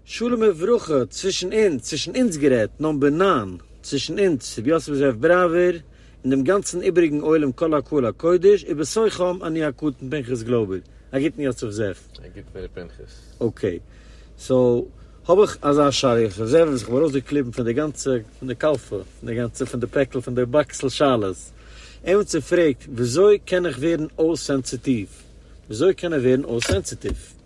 שלום וברכה, צווישן אונז, צווישן אונז גערעדט, נאמבער נײַן, צווישן אונז, רבי יוסף זאב בראווער, און דעם גאנצן איבעריגן עולם כל הקהל הקודש, ובסופם אני הקטן פנחס גלויבער. א גוטן יוסף זאב. א גוטן ר' פנחס. אקעי. סאו, האב איך אזא שאלה, יוסף זאב, וואס איך האב ארויסגעקליבן פון די גאנצע, פון די קאלפע, פון די גאנצע, פון די פעקל, פון די באקסל שאלות. עמיצער פרעגט, וויאזוי קען איך ווערן אויס סענסיטיוו? וויאזוי קען ער ווערן אויס סענסיטיוו?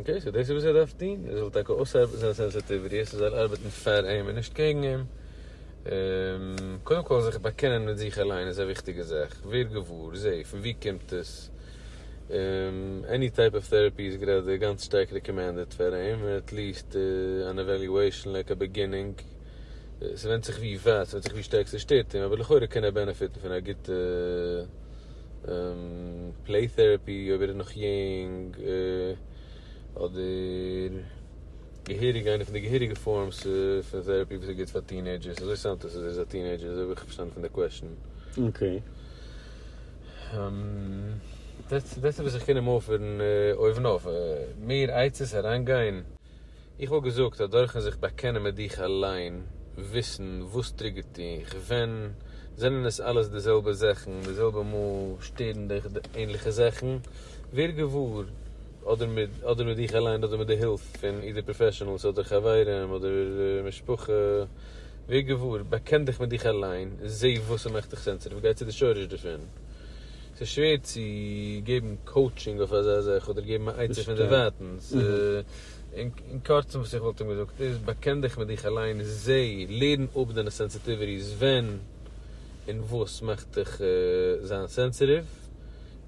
אקעי, סאו דאס איז וואס ער דארף טון, ער זאל טאקע אויסארבעטן זיינע סענסעטיוויטיס, ער זאל ארבעטן פאר אים און נישט קעגן אים, קודם כל זיך באקענען מיט זיך אליין איז א וויכטיגע זאך, ווער געוואר, זע, פון וואו קומט עס, עני טייפ אוו טעראפי איז גראדע גאנץ שטארק רעקאמענדעד פאר אים, עטליעסט אן עוועליועישן לייק א בעגינינג, ס'ווענדט זיך ווי ווייט, ס'ווענדט זיך ווי שטארק ס'שטערט אים, אבער לכאורה קען ער בענעפיטן פון א גוטע. פלעי טעראפי אויב ער איז נאך יונג, אדער געהעריג איינע פון די געהעריגע פארמס פון טעראפי וואס איז גוט פאר טינעידזשערס, אזוי סאונדט עס אז ער איז א טינעידזשער אזוי האב איך פארשטאנען פון די קוועשן. אקעי. דעטס איט וואס איך קען אים אויפערן אויבן אויף, מער עצות אריינגיין? איך וואלט געזאגט אז דורכן זיך באקענען מיט דיך אליין, וויסן וואס טריגערט דיך, ווען זענען עס אלעס די זעלבע זאכן, די זעלבע מאל שטערן דיך די ענליכע זאכן, ווער געוואר, אדער מיט אדער מיט דיך אליין אדער מיט די הילף פון אידער פראפעשענעלס אדער חברים אדער משפחה, ווער געוואר, באקען דיך מיט דיך אליין, זעה וואס ס'מאכט דיך סענסעטיוו, גיי צו די שורש דערפון. ס'איז שווער צו געבן קאוטשינג אויף אזא זאך אדער געבן א עצה פון דערווייטענס. אין קורצן וואס איך וואלט אים געזאגט איז, באקען דיך מיט דיך אליין, זע, לערן אפ דיינע סענסיטיוויטיס, ווען און וואס מאכט דיך זיין סענסיטיוו,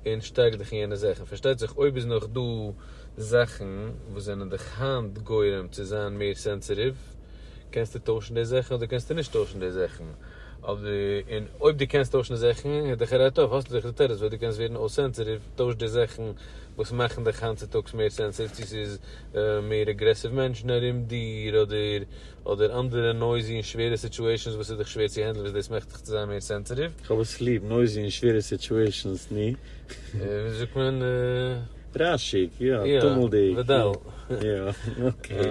און שטארק דיך אין יענע זאכן. פארשטייט זיך אויב איז נאך דא זאכן וואס זענען דיך היינט גורם צו זיין מער סענסיטיוו, קענסטו טוישן די זאכן אדער קענסטו נישט טוישן די זאכן. און אויב דו קענסט טוישן די זאכן איז דאך אלא טוב, האסט דאך די תירוץ פארוואס דו קענסט ווערן אויס סענסעטיוו, טויש די זאכן וואס מאכן דיך היינט צוטאגס מער סענסעטיוו, צו ס'איז מער אגרעסיוו מענטשן ארום דיר, אדער אדער אנדערע נויזי און שווערע סיטואשענס וואס איז דיך שווער צו הענדלען וואס דאס מאכט דיך צו זיין מער סענסעטיוו. כ'האב עס ליב, נויזי און שווערע סיטואשענס, ני? וויאזוי זאגט מען? ראשיג, יא, טומלדיג, יא, אקעי.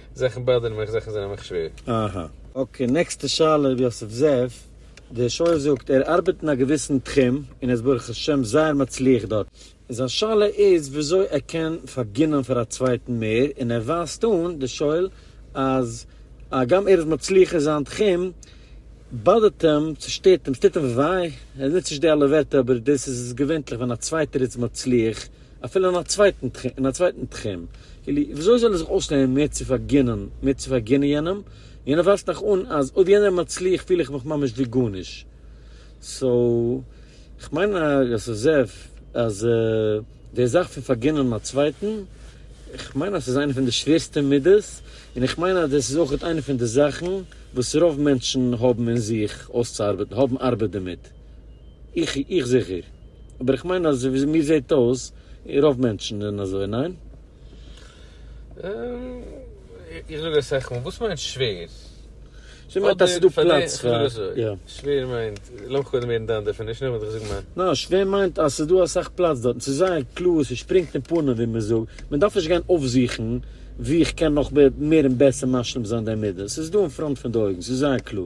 זאכן באדערן מיך, זאכן זענען מיך שווער. אהא. אקעי, נעקסטע שאלה ר' יוסף זאב, דער שואל זאגט ער ארבעט אין א געוויסן תחום און איז ברוך השם זייער מצליח דארט, און זיין שאלה איז וויאזוי ער קען פארגינען פאר א צווייטן מער, און ער ווייזט אן דער שואל אז הגם ער איז מצליח אין זיין תחום באדערט אים, צושטערט אים, ס'טוט אים וויי, ער נוצט נישט די אלע ווערטער אבער דאס איז געווענטליך ווען א צווייטער איז מצליח. אפילו אין א צווייטן תחום, אין א צווייטן תחום, כאילו וויאזוי זאל ער זיך אויסלערנען מער צו פארגינען, מער צו פארגינען יענעם, יענער ווייזט נאך אן אז אויב יענער איז מצליח פיל איך מיך ממש ווי גארנישט, סאו כ'מיין אז עס זעף אז די זאך פון פארגינען א צווייטן, כ'מיין אז עס איז איינע פון די שווערסטע מידות, און איך מיין אז דאס איז אויכעט איינע פון די זאכן וואס רוב מענטשן האבן אין זיך אויסצוארבעטן, האבן ארבעט דערמיט. איך זיכער. אבער איך מיין אז ווי מיר זעט אויס רוב מענטשן זענען אזוי, ניין? איך זאג אסאך מאל, וואס מיינט שווער? שווער מיינט אז ס'איז דא פלאץ פאר, איך זאג אזוי, יא. שווער מיינט, לאז מיך קודם הערן דיין דעפינישן און נאכדעם וועל איך זאגן מיין. ניין, שווער מיינט אז ס'איז דא אסאך פלאץ דארטן, ס'איז זייער קלאר, ס'שפרינגט אין פנים ווי מען זאגט, מען דארף נישט גיין אויפזוכן וואו איך קען נאך מער און בעסער משלים זיין די מידות, ס'איז דא אין פראנט פון די אויגן, ס'איז זייער קלאר.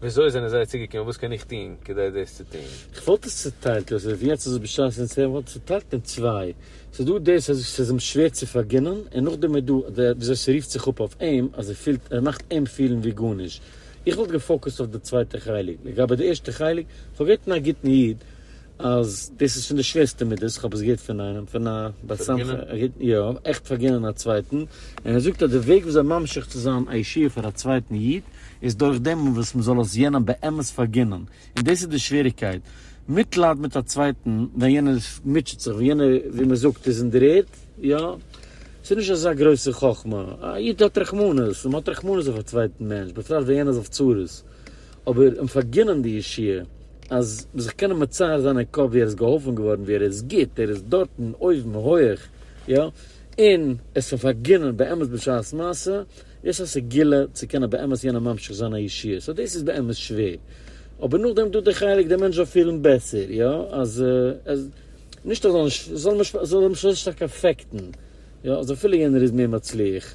וויאזוי זענען זיי צוגעקומען? וואס קען איך טון כדי דאס צו טון? איך וואלט עס צוטיילט לויט ווי יעצט איז עס בשעת אונז צוויי, וואלט עס צוטיילט אין צוויי, ס'איז דא דאס אז ס'איז אים שווער צו פארגינען, און נאכדעם איז דא דער וויאזוי ס'רופט זיך אפ אויף אים אז ער פילט, ער מאכט אים פילן ווי גארנישט. איך וואלט געפאוקוסט אויף די צווייטע חלק. לגבי די ערשטע חלק, פארגעט פון א גוטן איד. אז דאס איז פון די שווערסטע מידות, איך האב עס געהערט פון איינעם, פון א בר סמכא, א גוטן, יא, עכט פארגינען א צווייטן, און ער זאגט אז די וועג וויאזוי ממשיך צו זיין א ישועה פאר א צווייטן איד, איז דורך דעם וואס מען זאל עס יענעם באמת פארגינען, און דאס איז די שוועריקייט, מיטלייד מיט א צווייטן ווען יענער מוטשעט זיך, ווען יענער ווי מען זאגט איז אין דר'ערד, יא, ס'איז נישט אזא גרויסע חכמה, א איד האט רחמנות, און מען האט רחמנות אויף א צווייטן מענטש, בפרט ווען יענער איז אויף צרות. אבער אים פארגינען די ישועה, אז זיך קענען מצייר זיין אין קאפ ווי ער איז געהאלפן געווארן, ווי ער איז גוט, ער איז דארטן אויבן הויעך, יא, און עס אים פארגינען באמת בשעת מעשה, יש א סגולה צו קענען באמת יענעם ממשיך זיין א ישועה, סא דאס איז באמת שווער, אבער נאכדעם דא די חלק די מענטש זאל פילן בעסער, יא, אז עס, נישט אז עס זאל אים נישט אפעקטן, יא, אז אפילו יענער איז מער מצליח.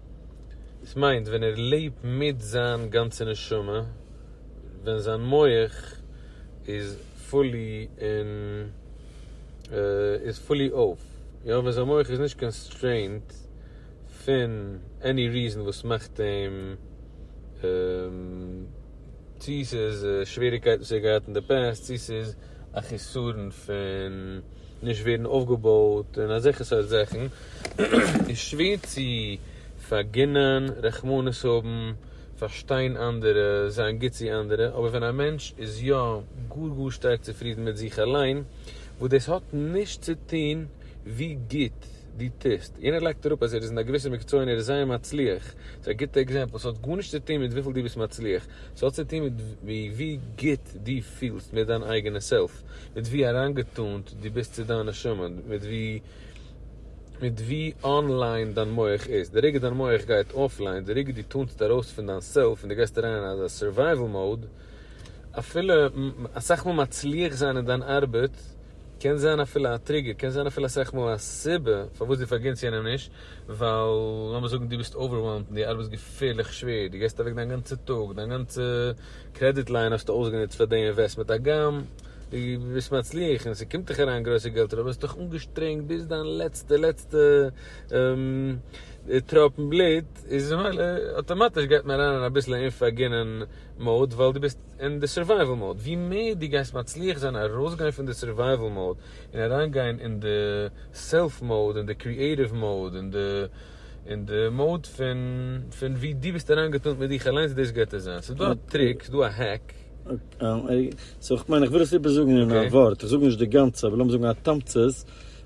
עס מיינט ווען ער לעבט מיט זיין גאנצע נשמה, ווען זיין מח איז פולי אין, איז פולי אויף, יא, ווען זיין מח איז נישט קאנסטרעינט פון עני ריזען וואס מאכט אים, צו ס'איז שוועריקייטן וואס ער האט געהאט אין די פעסט, צו ס'איז א חיסרון פון נישט ווערן אויפגעבויט און אזעלכע סארט זאכן, איז שווער צו פארגינען, רחמנות האבן, פארשטיין אנדערע, זיין גוט צו אנדערע, אבער ווען א מענטש איז יא גאר גאר שטארק צופרידן מיט זיך אליין, וואס דאס האט נישט צו טון ווי גוט דו טוסט, יענער לייגט אראפ אז ער איז אין א געוויסע מקצוע און ער איז זייער מצליח, ס'איז א גוטע עקזעמפל, ס'האט גארנישט צו טון מיט וויפיל דו ביסט מצליח, ס'האט צו טון מיט ווי גוט דו פילסט מיט דיין אייגענע סעלף, מיט ווי אריינגעטונט דו ביסט צו דיין נשמה, מיט ווי מיט ווי אנליין דיין מח איז. די רגע דיין מח גייט אפליין, די רגע דו טונסט ארויס פון דיין סעלף און דו גייסט אריין אין אזא סורווייוועל מאוד, אפילו אסאך מאל מצליח זיין אין דיין ארבעט קען זיין אפילו א טריגער, קען זיין אפילו אסאך מאל א סיבה פארוואס דו פארגינטסט יענעם נישט, ווייל לאמיר זאגן דו ביסט אווערוועלמד און דו ארבעסט געפערליך שווער, דו געסט אוועק דיין גאנצע טאג, דיין גאנצע קרעדיט ליין האסטו אויסגענוצט פאר די אינוועסטמענט הגם דו ביסט מצליח און ס'קומט דיך אריין גרויסע געלטער אבער האסט דיך אנגעשטרענגט ביז דיין לעצטע לעצטע טראפן בלוט איז ממילא אויטאמאטיש גייט מען אריין אין אביסל אומפארגינען מאוד ווייל דו ביסט אין די סורווייוועל מאוד, ווי מער דו גייסט מצליח זיין ארויסגיין פון די סורווייוועל מאוד און אריינגיין אין די סעלף מאוד, אין די קריעטיוו מאוד, אין די אין די מאוד פון פון ווי דו ביסט אריינגעטאנט מיט דיך אליינס דאס געט עס זיין. ס'איז דא א טריק, ס'איז דא א העק. סאו איך מיין איך וויל עס איבער זאגן אין א ווארט, איך זאג נישט די גאנצע אבער לאמיר זאגן א תמצית,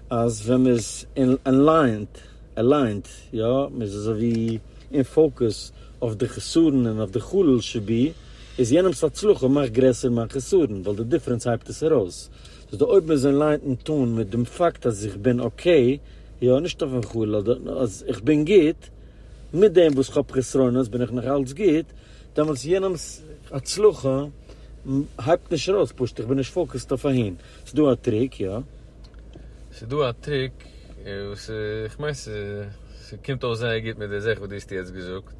אז ווען מ'איז אין אליינט, אליינט, יא, מ'איז אזוי ווי אין פאוקוס אויף די חסרון און אויף די חלל שבי, איז יענעמס הצלחה מאכט גרעסער מיין חסרון, ווייל די דיפרענס הייבט עס ארויס. דאס איז די אויבן עס ליינט און טאן מיט דעם פאקט אז איך בין אקעי, יא, נישט אויפן חול, אדער אז איך בין גוט, מיט דעם וואס כ'האב חסרונות בין איך נאך אלץ גוט, דעמאלטס יענעמס הצלחה הייבט נישט ארויס, פשוט איך בין נישט פאוקעסד אויף אהין. ס'איז דא א טריק, יא? ס'איז דא א טריק וואס כ'מיין ס'קומט אויס זייער גוט מיט די זאך וואס דו האסט יעצט געזאגט.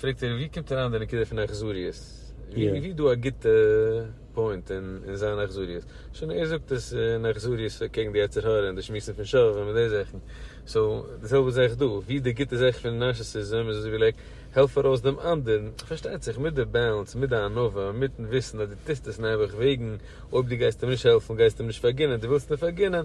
פרעגט ער ווי קומט אריין די נקודה פון אכזריות? ווי איז דא א גוטע פוינט אין זיין אכזריות? שוין ער זאגט עס אין אכזריות קעגן די יצר הרע און די שמועסן פון שווה און די זאכן, סאו די זעלבע זאך דא, ווי איז די גוטע זאך פון נארסיסיזם איז אזוי ווי לייק העלף ארויס דעם אנדערן, פארשטייט זיך מיט די באלאנס, מיט די ענווה, מיטן וויסן אז דו טוסט עס נעבעך וועגן אויב דו גייסט אים נישט העלפן גייסטו אים נישט פארגינען, דו ווילסט אים פארגינען,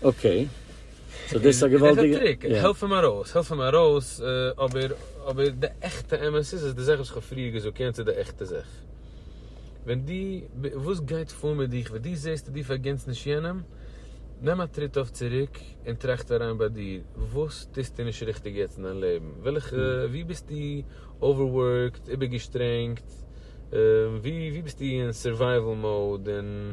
אקעי, סאו דאס איז א געוואלדיגע, יא. עס איז א טריק, העלף אים ארויס, העלף אים ארויס, אבער, אבער די עכטע אמת איז, איז די זאך וואס איך האב פריער געזאגט, יענץ איז די עכטע זאך. ווען דו, וואס גייט פאר מיט דיך, ווען דו זעסט אז דו פארגינטסט נישט יענעם, נעם א טריט אויף צוריק, און טראכט אריין ביי דיר, וואס טוסטו נישט ריכטיג יעצט אין דיין לעבן? וועלכע, וואו ביסטו אווערווארקד, איבערגעשטרענגט, וואו, וואו ביסטו אין סורווייוועל מאוד, און.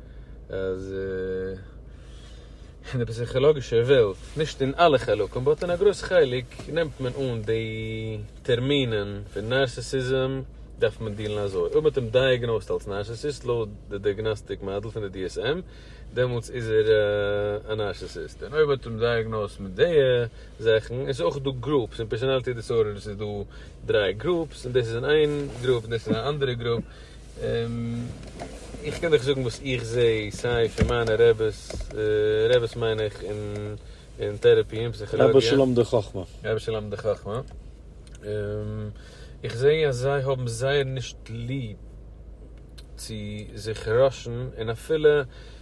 אז אין די פסיכאלאגישע וועלט, נישט אין אלע חלקים, באט אין א גרויס חלק, נעמט מען אן די טערמינען פון נארסיסיזם, דארף מען דילן אזוי. אויב מ'האט אים דייעגנאוזט אלס נארסיסיסט לויט די דייגנאסטיק מאדעל פון די DSM, דעמאלטס איז ער א נארסיסיסט. און אויב מ'האט אים דייעגנאוזט מיט די זאכן, עס איז אויך דא גרופס, אין פערסאנאליטי דיסארדערס איז דא דריי גרופס, און דאס איז אין איין גרופ, און דאס איז אין א אנדערע גרופ, איך קען דיך זאגן וואס איך זע סיי פון מיינע רעבעס, רעבעס מיין איך אין טערעפי אין פסיכאלאגיע. רבי שלום די חכמה. רבי שלום די חכמה. איך זע אז זיי האבן זייער נישט ליב צו זיך ראשן און אפילו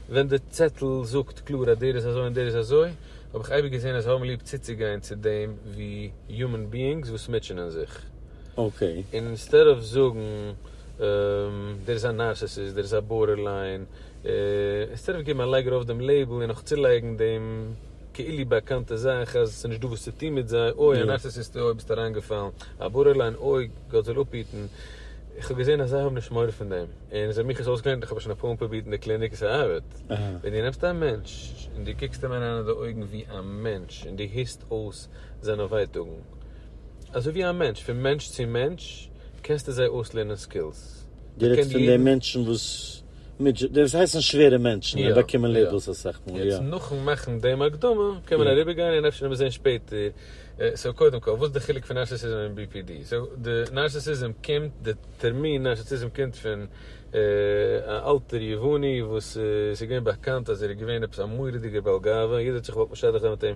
ווען די צעטל זאגט קלאר אז דער איז אזוי און דער איז אזוי האב איך אייביג געזען אז זיי האבן ליב צוצוגיין צו דעם ווי יומען ביאינגס וואס מוטשענען זיך. אינסטעד אוו זאגן דער איז א נארסעסיסט, דער איז א בארדערליין, אינסטעד אוו געבן א לייג ארויף דעם לעיבל און נאך צולייגן דעם כאילו באקאנטע זאך אז ס'נישט דא וואס צו טון מיט זיי, אוי א נארסעסיסט אוי ביסט אריינגעפאלן, א בארדערליין אוי גאט זאל אפהיטן, איך האב געזען אז זיי האבן נישט מורא פון דעם, און איז האט מיך עס אויסגעלערנט, איך האב עס שוין אפאר מאל פרובירט אין די קליניק און ס'ארבעט, ווען דו נעמסט א מענטש און דו קוקסט אים אריין אין די אויגן ווי א מענטש און דו הערסט אויס זיינע ווייטאגן, אזוי ווי א מענטש, פון מענטש צו מענטש קענסטו זיי אויסלערנען סקילס. דו רעדסט פון די מענטשן וואס מיט די וואס הייסן שווערע מענטשן און באקומען לעיבלס אסאך מאל, יא. יעצט נאכן מאכן דעם הקדמה קען מען אריבער גיין און אפשר וועט מען זען שפעטער, סאו קודם כל וואס איז די חילוק פון נארסיסיזם און BPD? סאו די נארסיסיזם קומט, די טערמין נארסיסיזם קומט פון א אלטער יווני וואס ס'איז געווען באקאנט אז ער איז געווען עפעס א מורא'דיגער בעל גאווה, יעדער האט זיך געוואלט משדך זיין מיט אים,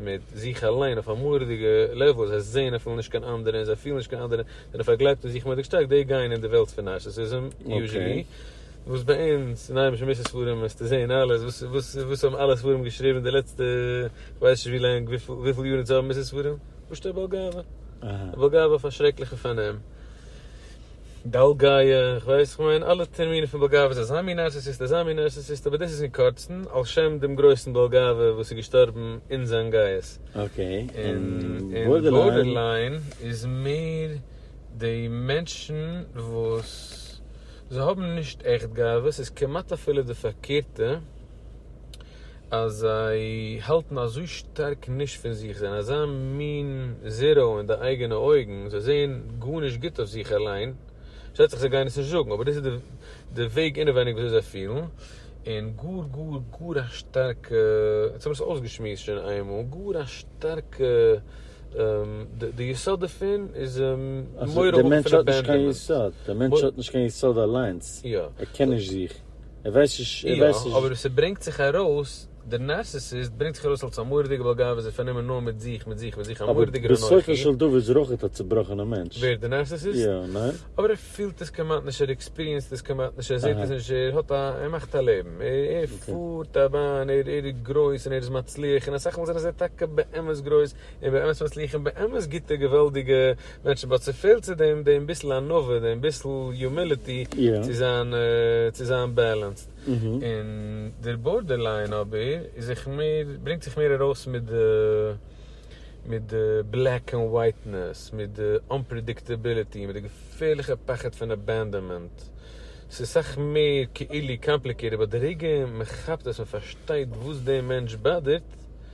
מיט זיך אליין אויף א מורא'דיגע לעוועל, זיי זעהן אפילו נישט קיין אנדערע און זיי פילן נישט קיין אנדערע, זענען פארגלייבט אין זיך מורא'דיג שטארק, די גייען אין די וועלט פון נארסיסיזם, יוזשעלי, וואס ביי אונז אין היימישע מוסר ספרים וועסטו זעהן אלעס, וואס וואס וואס האבן אלע ספרים געשריבן די לעצטע כ'ווייס נישט ווי לאנג, וויפיל יאר אונז האבן מוסר ספרים? פשוט'ער בעל גאווה, בעל גאווה אויף א שרעקליכע פארנעם. באלגאיע, כ'ווייס, כ'מיין אלע טערמינען פון באלגאווע איז אזא מין נארסיסיסט, אזא מין נארסיסיסט, אבער דאס איז אין קורצן על שם דעם גרויסן באלגאווע וואס איז געשטארבן אין זיין גייעס. אקעי, און בארדערליין איז מער די מענטשן וואס זיי האבן נישט עכט גאווה, ס'איז כמעט אפילו די פארקערטע, אז זיי האלטן אזוי שטארק נישט פון זיך, זיי זענען אזא מין זיראו אין די אייגענע אויגן, זיי זעען גארנישט גוט אויף זיך אליין, שטייט זיך זיי גייען עס נישט זאגן, אבער דאס איז די וועג אינעווייניג ווי אזוי זיי פילן, און גאר גאר גאר א שטארקע, יעצט האב איך עס אויסגעשמועסט שוין איינמאל, גאר א שטארקע, די יסוד דערפון איז מורא האבן פון עבענדאנמענט. די מענטש האט נישט קיין יסוד, די מענטש האט נישט קיין יסוד אליינס, ער קען נישט זיך. ער ווייסט נישט, ער ווייסט נישט. יא, אבער עס ברענגט זיך ארויס, דער נארסיסיסט ברענגט זיך ארויס אלס א מורא'דיגע בעל גאווה, איז ער פארנומען נאר מיט זיך, מיט זיך, מיט זיך, א מורא'דיגער אנכי. אבער בסופו של דבר איז ער אויך א צובראכענער מענטש. ווער? דער נארסיסיסט? יא, ניין? אבער ער פילט עס כמעט נישט, ער עקספיריענסד עס כמעט נישט, ער זעט עס נישט, ער האט א, ער מאכט א לעבן, ער פארט א באן, ער איז גרויס און ער איז מצליח, און אסאך מאל זענען זיי טאקע באמת גרויס, און באמת מצליחים באמת גוטע געוואלדיגע מענטשן באט ס'פעלט צו דעם דעם ביסל ענווה דעם ביסל יומיליטי צו זיין צו זיין בעלענסד און דער בארדערליין אבער איז זיך מער ברענגט זיך מער ארויס מיט די מיט די בלעק ענד ווייטנעס מיט די אנפרעדיקטעביליטי מיט די געפערליכע פחד פון אבענדאנמענט ס'איז סאך מער כאילו קאמפליקעיטעד באט די רגע מ'כאפט עס מ'פארשטייט וואס דעם מענטש באדערט.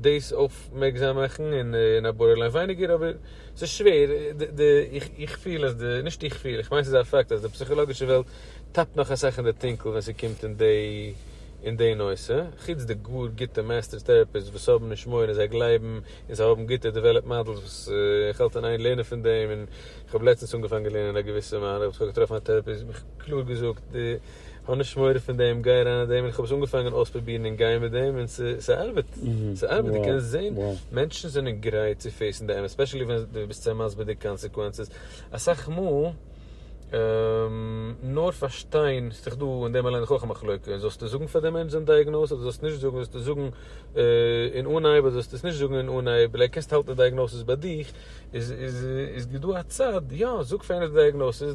דאס אויפמערקזאם מאכן אין א בארדערליין ווייניגער אבער ס'איז שווער איך פיל אז די נישט איך פיל איך מיין ס'איז א פאקט אז די פסיכאלאגישע וועלט טאפט נאך אסאך אין די טונקל ווען ס'קומט אין די נושא חוץ די גאר גוטע מעסטער טעראפיסטס וואס האבן נישט מורא און זיי גלייבן און זיי האבן גוטע דעוועלאפ מאדעלס וואס איך האלט אין איין לערנען פון דעם און איך האב לעצטנס אנגעפאנגען לערנען א געוויסע מהלך וואס איך האב געטראפן א טעראפיסט וואס האט מיך קלאר געזאגט די האב נישט מורא פון דעם, גיי אריין אין דעם, און איך האב עס אנגעפאנגען אויספרובירן און גיין מיט דעם און ס'ארבעט, ס'ארבעט, דו קענסט זען מענטשן זענען גרייט צו פעיסן די אמת, ספעשעלי ווען דו ביסט זיי מסביר די קאנסעקווענסעס, אסאך מאל נאר פארשטיין, ס'דאך דא אין דעם אליין דאך אויך א מחלוקה, זאלסטו זאגן פאר די מענטש זיין דייעגנאוז אדער זאלסטו נישט זאגן, זאלסטו זאגן אין אנהייב אדער זאלסטו עס נישט זאגן אין אנהייב, אולי קענסטו האלטן די דייעגנאוזיס ביי דיך, איז איז איז דא א צד, יא זאג פאר איינער די דייעגנאוזיס,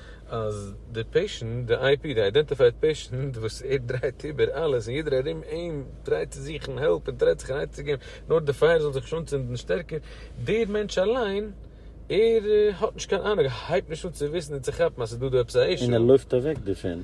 אז די פעישענט, די איי פי, די איידענטיפייד פעישענט, וואס ער דרייט איבער אלעס און יעדער ארום אים טרייט צו זוכן העלפ און טרייט זיך אנייצו געבן נאר די פייער זאל זיך נישט אנצינדן שטערקער, דער מענטש אליין ער האט נישט קיין אנונג, ער הייבט נישט אן צו וויסן און צו כאפן אז ס'איז דא דא עפעס א אישו. און ער לויפט אוועק דערפון.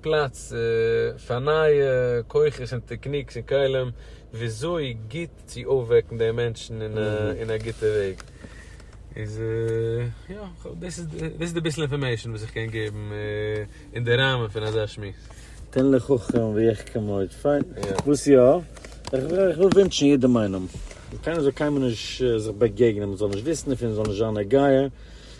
פלאץ פאר נייע כוחות און טעקניקס און כלים וויאזוי גוט צו אויפוועקן די מענטשן אין א גוטע וועג. איז יא, דאס איז די ביסל אינפארמעישן וואס איך קען געבן אין די ראמען פון אזא שמועס. תן לחכם ויחכם עוד, פיין. וואס יא? איך וויל ווינטשן יעדעם איינעם אז קיינער זאל קיינמאל נישט זיך באגעגענען, מען זאל נישט וויסן דערפון, מען זאל נישט זיין נוגע.